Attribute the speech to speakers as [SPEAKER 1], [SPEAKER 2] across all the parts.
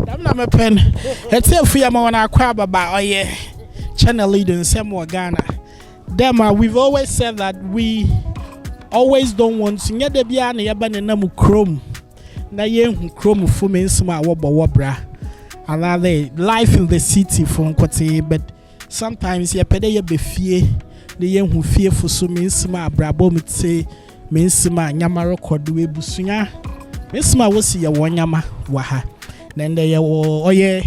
[SPEAKER 1] dɛm na mepɛ no ɛte afu yɛ ma wɔn akɔ ababa ɔyɛ channel lead nsɛm wɔ ghana dɛm a we've always said that we always don't want to nyɛ da biara na yɛba ne nam kurom na yɛnhu kurom fo me nsɛm a wɔbɔ wɔ bra anaa life in the city fo nkotee but Sometimes yɛpɛ dɛ yɛba fie na yehu fiefo so me nsɛm a abrabɔ mu tse, me nsɛm a ndzɛmba rokɔ do, ebusua, me nsɛm a wosi yɛ hɔn ndzɛmba wɔ ha. Na ndɛ yɛwɔ ɔyɛ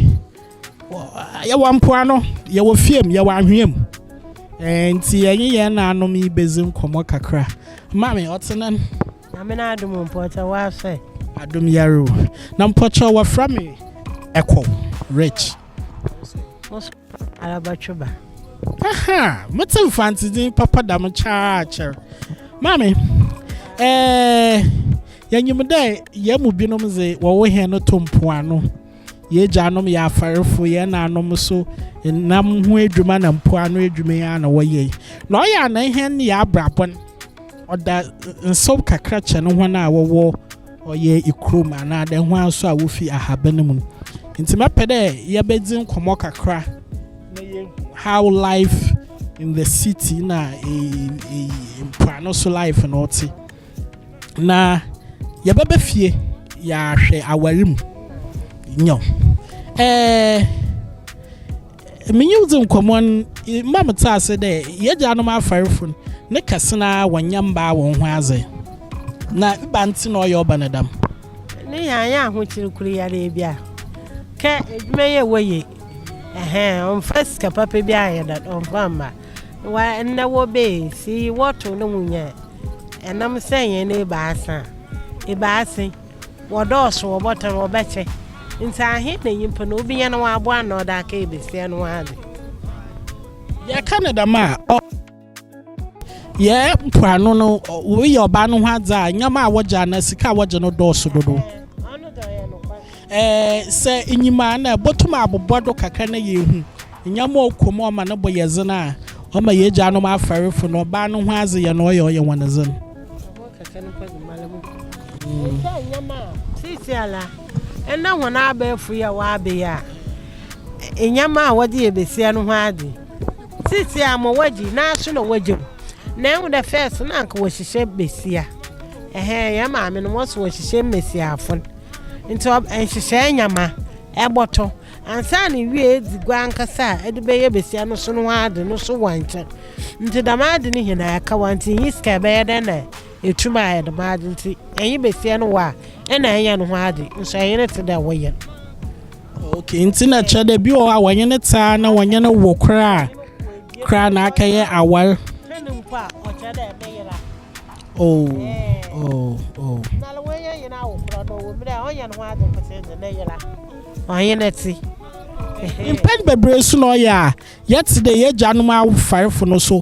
[SPEAKER 1] yɛwɔ mpoano, yɛwɔ fie mu, yɛwɔ anhwea mu. Ntsi yɛnye hɛn naanom yi bedzi nkɔmbɔ kakra. Maame, ɔtse dɛn? Nyame n'adom
[SPEAKER 2] o, mpɔkyɛw w'asoɛ? Adom yare o.
[SPEAKER 1] Na mpɔkyɛw wɔfrɛ me Ɛkɔw Rich.
[SPEAKER 2] Arabatweba. Aha,
[SPEAKER 1] mete mfante din papa da mo kyaa kyɛr. Maame, eh, yɛnyim dɛ yɛn mu binom dze wɔwo hɛn no to mpoano. Yɛagyanom yɛ afarfo, yɛn naanom so nam ho edwuma na mpoano edwuma yi ara na wɔyɛ. Na ɔyɛ a na hɛn yɛ abrabɔ no ɔda nsew kakra kyɛn hɔn a wɔwɔ ɔyɛ ikurom anaa dɛ hɔn so a wofi ahaban mu. Ntsi mɛpɛ dɛ yɛbɛdzi nkɔmbɔ kakra na yeehu how life in the city na mpoano so life no tse. Na yɛbɛba fie yaahwɛ awar mu, nyew, eh. Menye wo dzi nkɔmbɔ no, mma metse ase dɛ yɛagyanom afarfo no, ne kɛse no ara wɔnnyɛ mmbaa hɔnho adze. Na ebɛn ntsi na ɔyɛ ɔba no dɛm? Ne yɛannyɛ
[SPEAKER 2] ahokyer kor yi ara bi a, kɛ edwuma yi a ewɔ ye, ɛhɛn, ɔmmfa sika papa bi annyɛ dɛn, ɔmmfa mma. Wa, ndɛ wɔbɛ yi, si wɔtow na wonnya a, ɛnam sɛ hɛn ebiasa, ebiasa yi. Wɔdɔɔso wɔ bɔtɔ no, wɔbɛkyɛ. Ntsi ahen na nyimpa no obi nya na ɔaboa ano na ɔdze akɛyɛ basia no ho adze?
[SPEAKER 1] Yɛka no dɛm a, ɔ. Yɛ mpoano no, wɔyɛ ɔbaa no ho adze a, ndzɛmba a wɔgye anaa sika a wɔgye no dɔɔso dodow. Ɛɛ, sɛ inyim a, nna ibotum abobɔ do kakra na yeehu ndzɛmba a ɔkɔ mu a ɔma no bo yɛ dzen a ɔma hɛn egyanom afɛrfo no ɔbaa no ho adze yɛ na ɔyɛ ɔyɛ hɔn dzen.
[SPEAKER 2] sisi a la ɛna wɔn abɛɛfo yi a wɔabɛyɛ a nneɛma a wɔde yɛ besia no ho ade sisi a ma wɔagye n'aso na wɔagye mu na ɛho dɛ fɛs na anka wɔhyehyɛ besia ɛhɛn yɛn maame no wɔso wɔhyehyɛ mmesiafo nti nhyehyɛ nneɛma ɛbɔtɔ. Ansa na ewia edzi gua ankasa a edze bɛyɛ basia no so no ho adze no so wɔ nkyɛn. Ntsi dɛm adze no hɛn aakawa ntsi innyi sika a ebɛyɛ dɛn na eetum ayɛ dɛm adze ntsi enye basia no wɔ a nna enye no ho adze nso enye no tse dɛ wo yer. Okay,
[SPEAKER 1] ntsi nna kyerɛ dɛ bi wɔ hɔ a wɔnye no tse a na wɔnye no wo koraa koraa na akɛyɛ awar. Hɛn mpo a
[SPEAKER 2] ɔkyerɛ dɛ me yer a. Oh, eh. oh, oh. Na le wenya yena wo kro no wo mira onye no ho ade nkote de na yela. Onye na ti. Mpɛn
[SPEAKER 1] bebree so na ɔyɛ a yɛte dɛ yɛagyanom awofarefo no so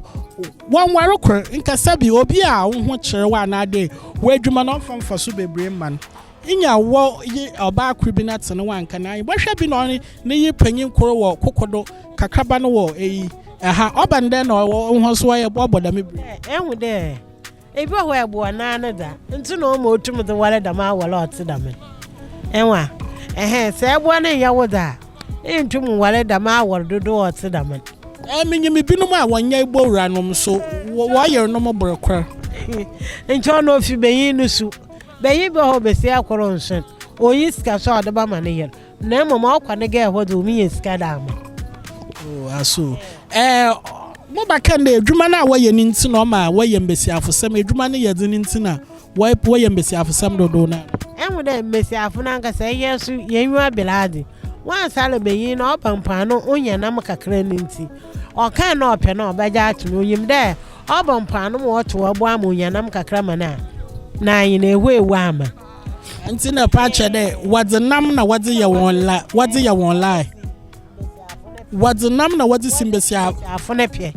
[SPEAKER 1] wɔnware kor nkasa bi obi a wo ho kyerɛ wo anaadɛ w'adwuma no ɔmfa mfaso bebree mma no. Nya wɔ yi ɔbaa koro bi na tene wanka na yi bɔhwɛ bi na ɔne ne yi panyin koro wɔ kokodo kakraba no wɔ eyi ɛha ɔba no dɛ na ɔwɔ nhɔ so ɔyɛ bɔ bɔ dame biri. Ehu dɛ
[SPEAKER 2] ebi wɔ hɔ a ɛboa naa no da nti na ɔma otum de ware dame aware a ɔte dame ewa ɛhɛn sɛ ɛboa no nyɛ wo da a entum nware dame aware dodoɔ a ɔte dame no. Ɛɛ me nyim binom
[SPEAKER 1] a wɔnyɛ ebowura nom so wɔ wɔyernom bere kor. Nkyɛ
[SPEAKER 2] ɔno ofi benyin no su. Beyi bɛ hɔ besia kor nnhwɛ, onnyi sika so a ɔdze bɛma ne yer, na mbom ɔkɔ ne gɛɛ hɔ dze ominya sika dze ama. Oh, aso
[SPEAKER 1] eh, mobɛka ndɛ edwuma no a wɔyɛ no ntsi na ɔma wɔyɛ mbasiafosɛm, edwuma no yɛ dzen ntsi na wɔyɛ mbasiafosɛm dodow no ara? Ehu dɛ mbasiafo
[SPEAKER 2] nankasa hɛn so yennyiwa ber adze, wɔannsala banyin na ɔba mpoano onnya nam kakra no ntsi, ɔkã no a ɔpɛ no a ɔbɛgye ato no, onyim dɛ Ɔbɔ mpaa no ma ɔtow ɔbo ama onya nam kakra ma no a, na aye na ehue ewu ama. Ntsi na
[SPEAKER 1] ɔpɛ akyerɛ dɛ wɔdze nam na wɔdze yɛ hɔn la wɔdze yɛ hɔn lie. Wɔdze nam na wɔdze si mbasiafo. Mbasiafo no pɛ.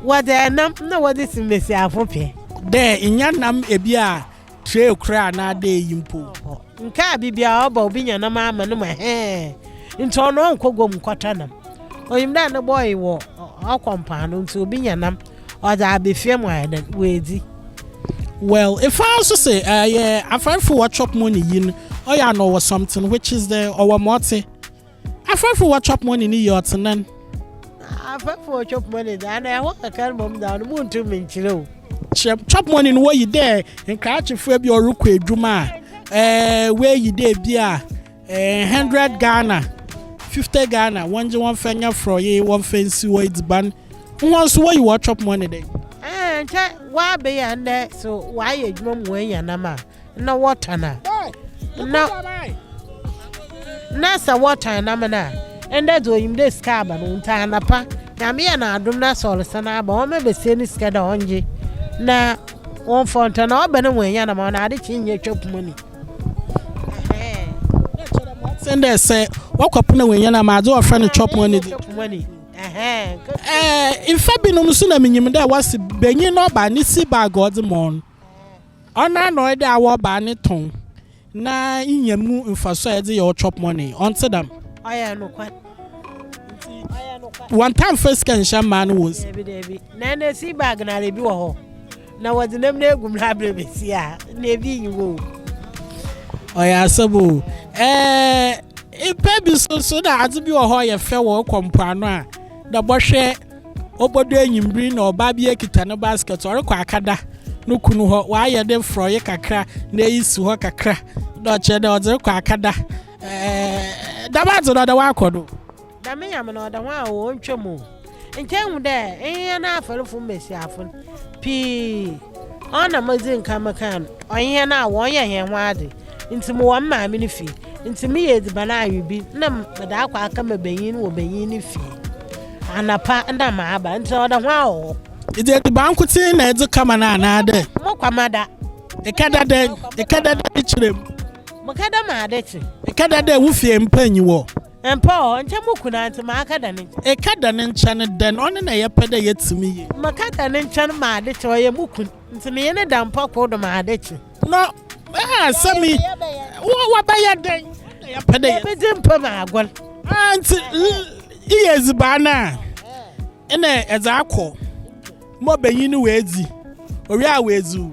[SPEAKER 2] Wɔdze nam na wɔdze si mbasiafo pɛ. Dɛ nnya
[SPEAKER 1] nam bi a Tray koraa anaa dee yi mpo. Nkaa bibia
[SPEAKER 2] a ɔba obi nya nam ama no ma hɛɛ nti ɔno ɔnkɔ guam nkɔtɔ nam. Onyim dɛ ne boy wɔ ɔkɔ mpaano nti obi nya nam ɔdze aba fie ma ɔayɛ dɛn oedzi.
[SPEAKER 1] Well efaa nso se ɛyɛ afɛrfo wɔ chop money yi no ɔyɛ a na ɔwɔ something which is the ɔwɔ ma ɔtse Afɛɛfo wɔ chop money no yie ɔtsenan.
[SPEAKER 2] Afɛɛfo wɔ chop money dze ana ɛhɔ kakra no mbom dza ɔno munntum nnkyerɛ o. Kyerɛ, chop money
[SPEAKER 1] no woyi dɛ nkrakyefua bi a ɔrokɔ edwuma a ɛɛ woeyi dɛ bi a ɛɛ hundred Ghana, fifty Ghana wɔngye wɔmfa nyɛ frɔye, wɔmfa nsi hɔ edziban, hɔn so woyi hɔn chop money dɛn? Ɛɛ nkyɛ
[SPEAKER 2] wɔabeyi a ndɛ so wɔayɛ edwuma mu woenya nam a na wɔtan a na na sɛ wɔtan nam no a ɛndɛ dze onyim dɛ sika aba no ntsi anapa nyame yɛ n'adom na sɛ ɔresan aba ɔma besia no sika dɛ ɔngye na wɔmfa ɔntɔ na ɔba no wɔanya nam ɔno ade kye nyɛ twa puma ni
[SPEAKER 1] sɛn dɛ sɛ wɔkɔ po na wɔanya nam adze wɔfrɛ no chop money de ɛɛ mfa binom nso na menyim dɛ wɔse banyin na ɔba ne si bag ɔdze mɔɔ no Ɔnoara na ɔyɛdɛ awɔ ɔbaa ne tɔn na inya mu mfaso a edze yɛ wo chop money, ɔnntse dɛm? Ɔyɛ nokwar.
[SPEAKER 2] Ntsi
[SPEAKER 1] wɔnntaa mmfa sika nnhyɛ mmaa no hɔn nsa. Dabi, dabi. Na ndɛ sea
[SPEAKER 2] bag no ara bi wɔ hɔ na wɔdze nam no egu mu na aber besi a na bi nnyi hɔ o.
[SPEAKER 1] Ɔyɛ asɛm o. Ɛɛ, mpɛn bi so so nna adze bi wɔ hɔ a ɔyɛ fɛ wɔ ekɔ mpoano a nna bɔhwɛ. Obodu ewimbir na ɔbaa bi ekita no basket ɔrokɔ akɛda no kun hɔ. Ɔayɛ ne frɔye kakra na eyi si hɔ kakra na ɔkyerɛ dɛ ɔdze rokɔ akɛda. Ɛɛɛɛ dɛm adze no ɔda hɔ akɔ do. Dɛm nyame
[SPEAKER 2] no ɔda hɔ a onntwa mu o. Nkyɛ ehu dɛ nyehɛn afarfo mbasiafo no pii, ɔnna medzi nkan mekaa no, ɔnye hɛn a wɔyɛ hɛnho adze. ntsi mowɔ me maame no fie, ntsi meyɛ edziban awe bi na mede akɔ aka ma banyin no wɔ banyin no fie anapa na maaba, ntsi ɔda ho ara wɔ hɔ. Edze edziban
[SPEAKER 1] nkotsee na edze kama no anaadɛ? Mokama da.
[SPEAKER 2] Ekɛda
[SPEAKER 1] dɛ? Ekɛda dɛ ne kyerɛ mu? Mekɛda
[SPEAKER 2] ma ade kye.
[SPEAKER 1] Ekɛda dɛ wo fie mpa nnyi hɔ? Mpa wɔ hɔ, nkyɛ
[SPEAKER 2] mo kun a ntsi makɛda ne nkyɛn. Ekɛda ne
[SPEAKER 1] nkyɛn dɛn? Ɔno na yɛpɛ dɛ yɛtse mu yie. Mekɛda ne nkyɛn
[SPEAKER 2] ma ade kye, ɔyɛ mo kun. Nti menye no da mpa kor do ma ade kye. No
[SPEAKER 1] a sɛ me wo wɔbɛyɛ dɛn? Nna yɛpɛ dɛ yebedzi mpa mu agor.
[SPEAKER 2] Ah, ntsi eyɛ
[SPEAKER 1] edziban no a, nna edze akɔ ma ɔbanyin no oedzi, owie a oedziw.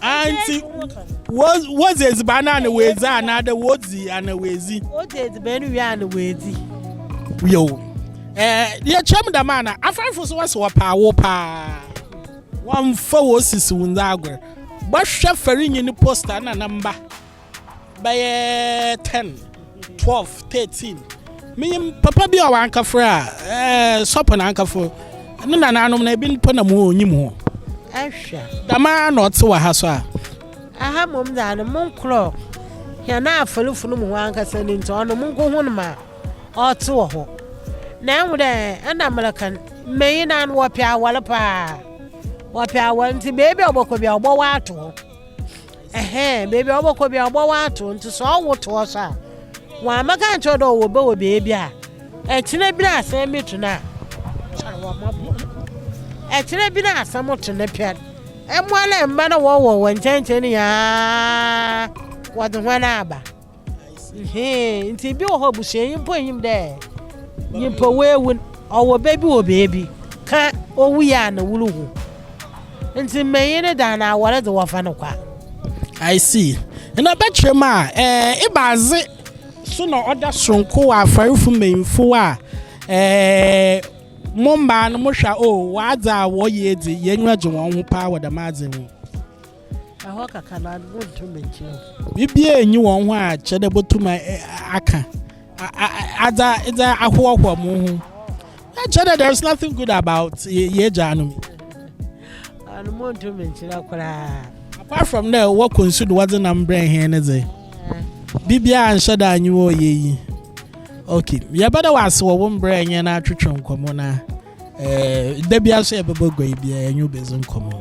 [SPEAKER 1] Anti wodzi edziban ana woedzi anaadɛ wodzi ana woedzi? Wodzi edziban wie
[SPEAKER 2] ana woedzi? Yo.
[SPEAKER 1] Eh, yɛkyerɛ mu dɛm ana? Afrɛfo so wɔse wɔpɛ awo paa. Wɔmfa wosisiw ndze agor. Bɔhwɛ Farinyi ne poster na ne mba. bɛyɛ ten, twelve, thirteen. Menyim papa bi a ɔankafrɛ a, ɛɛ sɔpo na ankafo. Ne nanaanom no, ebi mpo na mu onyim ho. Ahwɛ.
[SPEAKER 2] Dɛm ara na ɔtse
[SPEAKER 1] wɔ ha so a. Aha
[SPEAKER 2] mbom dza no mo nkorɔ hɛn afarfo no mu hɔn ankasa no ntsi, ɔno munnkohun ma ɔtse wɔ hɔ. Na ehu dɛ nna mereka no, mbanyin no ano wɔpɛ awar paa. Wɔpɛ awar ntsi beebi a ɔbɔkɔ biara ɔbɔwar ato hɔ. Ɛhɛɛ, beebi a ɔbɔkɔ bia ɔbɔ w'ato, nti sɛ ɔwo to hɔ so a, wɔammɛka ankyerɛ wo dɛ ɔwɔ bɛ wɔ beebi a, ɛkyena bi na asɛm bi to no a, kyɛrɛ wɔ mmɔbɔ. Ɛkyena bi na asɛm to no pɛn, mmoa ne mma na wɔwɔ wɔ nkyɛnkyɛn nyinaa wɔdze hɔn aba. Hee, nti bi wɔ hɔ abusua yi mpo nyim dɛ nyimpa oewu n', ɔwɔ ba bi wɔ beebi, kã owu yɛ a na woruhu. Ntsi mbanyin no dze ana awar dze wɔfa no kwa. I
[SPEAKER 1] see. Nna ɔbɛkyerɛ mu a, eh, ebɛadze so na ɔda soronko wɔ afarfo mbanyimfo a, eh, mo mbaa no mohwɛ a, oh, wɔadze a wɔyɛ edzi, hɛn enyiwa gye hɔnho paa wɔ dɛm adze yi ho.
[SPEAKER 2] Ɛhɔ kaka na wonto m'ekyir o. Biribiara nnyi
[SPEAKER 1] hɔn ho a kyerɛ dɛ botum akã adze edze ahoahoa mo ho. Na kyerɛ dɛ there is nothing good about y'egyanom yi.
[SPEAKER 2] Ano monto me nkyerɛ koraa. Apart from dɛ
[SPEAKER 1] wɔkɔ nsu do wɔdze nam brɛ hɛn no dze, biribiara annhyɛ da annye wɔ ɔyɛ yi. Okay, yɛbɛda wo ase wɔ wo mber a enye yɛn atwetwe nkɔmbɔ no a, da biara so yɛbɛbɔ gua yi bi a yɛnye wo bedzi nkɔmbɔ.